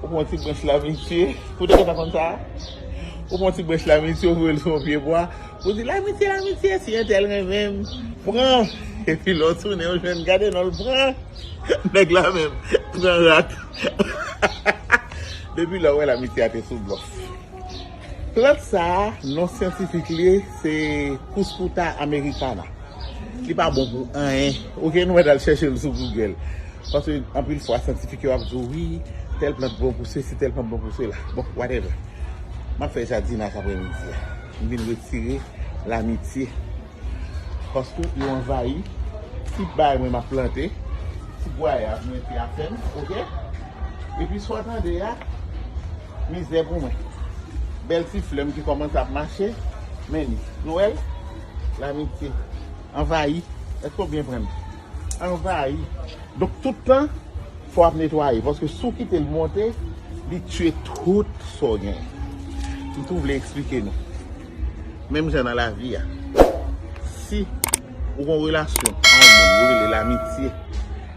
Ou pran ti branch la misye. Ou te gentan konn sa? Ou pran ti branch la misye, ou voye l sou yon pye bwa. Ou di, Lamitye, lamitye, si entèl renmen m, pran. Epi lè w tounen ou jwenn, gade non l pran. Nèg la menm, pran rat. Depi lè ou wè lamitye a te sou blòf. Plant sa a, non syantifik li se Cuscuta americana. Li pa bon pou anyen, ok, nou mèt al chèche l sou Google. Paske anpil fwa syantifik yo ap di w, wi, tèl plant bon pou sesi, tèl plant bon pou sela. Bon, whatever. M ap fè jadinaj apremidi a. M vin retire lamitye. Paske yo anvayi tout bagay mwen map plante Ti pwaye ap mete apèn ok Epi sa w tande a mizè pou mwen Bèl ti flè m ki kòmanse ap mache Men li Nou wè l Lamitye anvayi Èske w byen pran m Anvayi Donk tout tan fò w ap netwaye Paske si w kite l monte li tiye tout sa w genyen M tou vle esplike nou. Menm jan nan lavi a, si ou gen yon relasyon ak yon moun yo rele lamitye,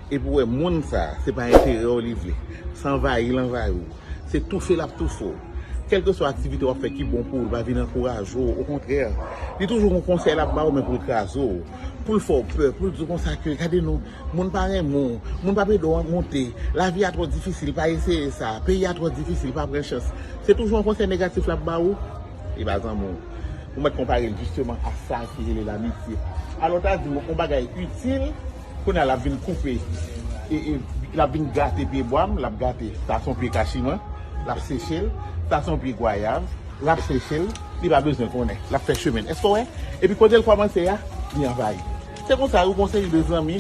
epi ou wè moun sa a se pa enterè w li vle, se anvayi l anvayi w, se toufe l ap toufe w, kèlkeswa aktivite w ap fè ki bon pou ou li pa vin ankouraje w, okontrè li toujou gen yon konsèy l ap ba w men pou l kraze w, pou l fè w pè, pou l di w konsa ke gade non, moun pa renmen w, moun pa p ede w monte, lavi a twò difisil pa eseye sa, peyi a twò difisil pa pran chans, se toujou yon konsèy negatif l ap ba ou. E ba zanmi w. Ou mèt konpare l jisteman a sa ki rele lamitye. Alò ta di w yon bagay itil, kounye a l ap vin koupe, l ap vin gate pye bwa m, l ap gate. Sa se yon pye kachiman, l ap seche l. Sa se yon pye gwayav, l ap seche l. Li pa bezwen konnen. L ap fè chemen l. Èske w wè? Epi kote l kòmanse a, li anvayi. Se konsa yon seri de zanmi,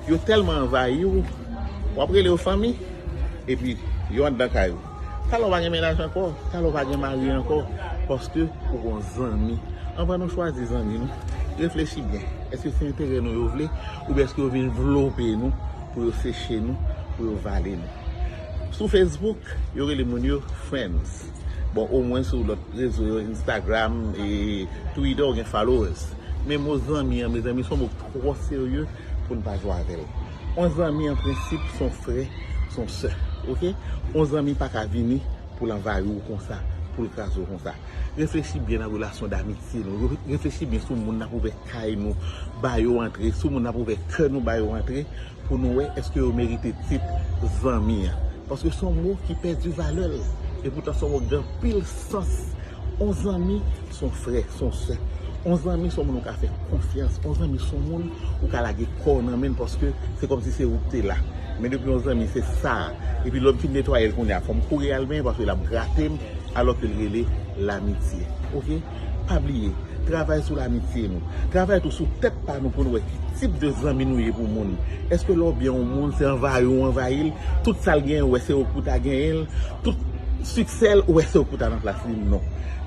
yo tèlman anvayi w, w ap rele yo fanmi, epi yo anndan kay ou. Talè w pa gen mennaj ankò, talè w pa gen mari ankò paske ou gon zanmi. Anvan nou chwazi zanmi nou, reflechi byen. Eske se enterè nou yo vle oubyen eske yo vin vlope nou pou yo seche nou, pou yo vale nou? Sou Facebook, yo rele moun yo friends. Bon, omwen sou lòt rezo yo, Instagram, Twitter, ou gen followers. Men mo zanmi an, mezanmi, son mo k twò serye pou n pa jwe avè l. On zanmi an prensip son frè, son sè. Ok? On zanmi pa ka vini pou l anvayi w konsa, pou l kraze w konsa. Reflechi byen nan relasyon damitye nou yo. Reflechi byen sou moun n ap ouvè kay nou ba yo antre, sou moun n ap ouvè kè nou ba yo antre pou nou wè èske yo merite tit zanmi an. Paske son mo ki pèdi valè l. Epoutan son mo k gen anpil sans. On zanmi se yon frè, se yon sè. On zanmi se yon moun ou ka fè konfyans. On zanmi se yon moun ou ka lage kò w nan men l paske se kòm si se ou ki te la. Men depi on zanmi se sa a, epi lè m fin netwaye l kounye a, fò m kouri al benyen paske l ap grate m, alò ke l rele lamitye. Ok? Pa bliye, travay sou lamitye nou. Travay tou sou tèt pa nou pou nou wè ki tip de zanmi nou ye pou moun. Èske lè w byen on moun, se anvayi ou anvayi l? Tout sa l genyen ou wè se ou ki pou ta genyen l? Tout. Succel ou wè se ou pou ta nan plas li non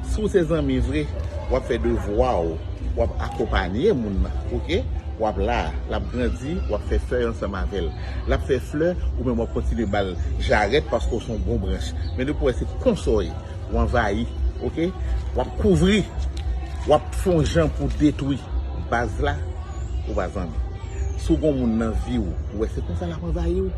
si w se zanmi vre wap fè devwa w wap akonpanye moun nan ok wap la lap grandi wap fè fèy ansanm avèl lap fè flè ou menm wap kontinye bal jarèt paske w se yon bon branch men depi w wè se konsa w ye w anvayi ok wap kouvri wap fè yon jan pou w detwi baz la ou pa zanmi si w gen yon moun nan vi w ou wè se konsa lap anvayi w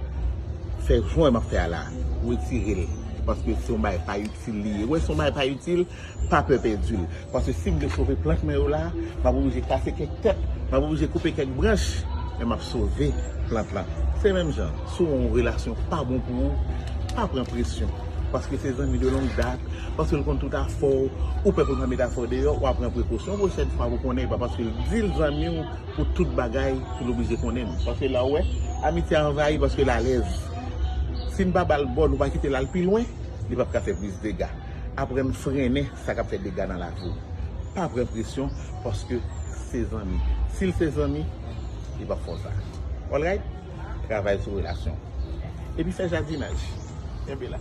fè jan w wè map fè a la. Retirel paske son bagay pa itil li ye wè son bagay pa itil pa pè pèdil paske sim vle sove plant mwen yo la map oblije kase kèk tèt map oblije koupe kèk branch men map sove plant lan se menm jan si yon relasyon pa bon pou ou pa pran presyon paske se zanmi de long dat paskel konn tout afèw ou pè poul pa met afèw deyò wap pran prekosyon yon pwochèn fwa pou konnen epa paskel dil zanmiw pou tout bagay pou nou oblije konnen m. Paske la ou wè, amitye a anvayi paske l alèz. Si n pa ba l bò, nou pa kite l al pi lwen, li p ap ka fè plis dega. Aprann frennen sa k ap fè dega nan lavi w. Pa pran presyon paske se zanmi. Si l se zanmi, li p ap fè w sa. Alright? Travay sou relasyon w. Epi fè jadinaj. Kenbe la.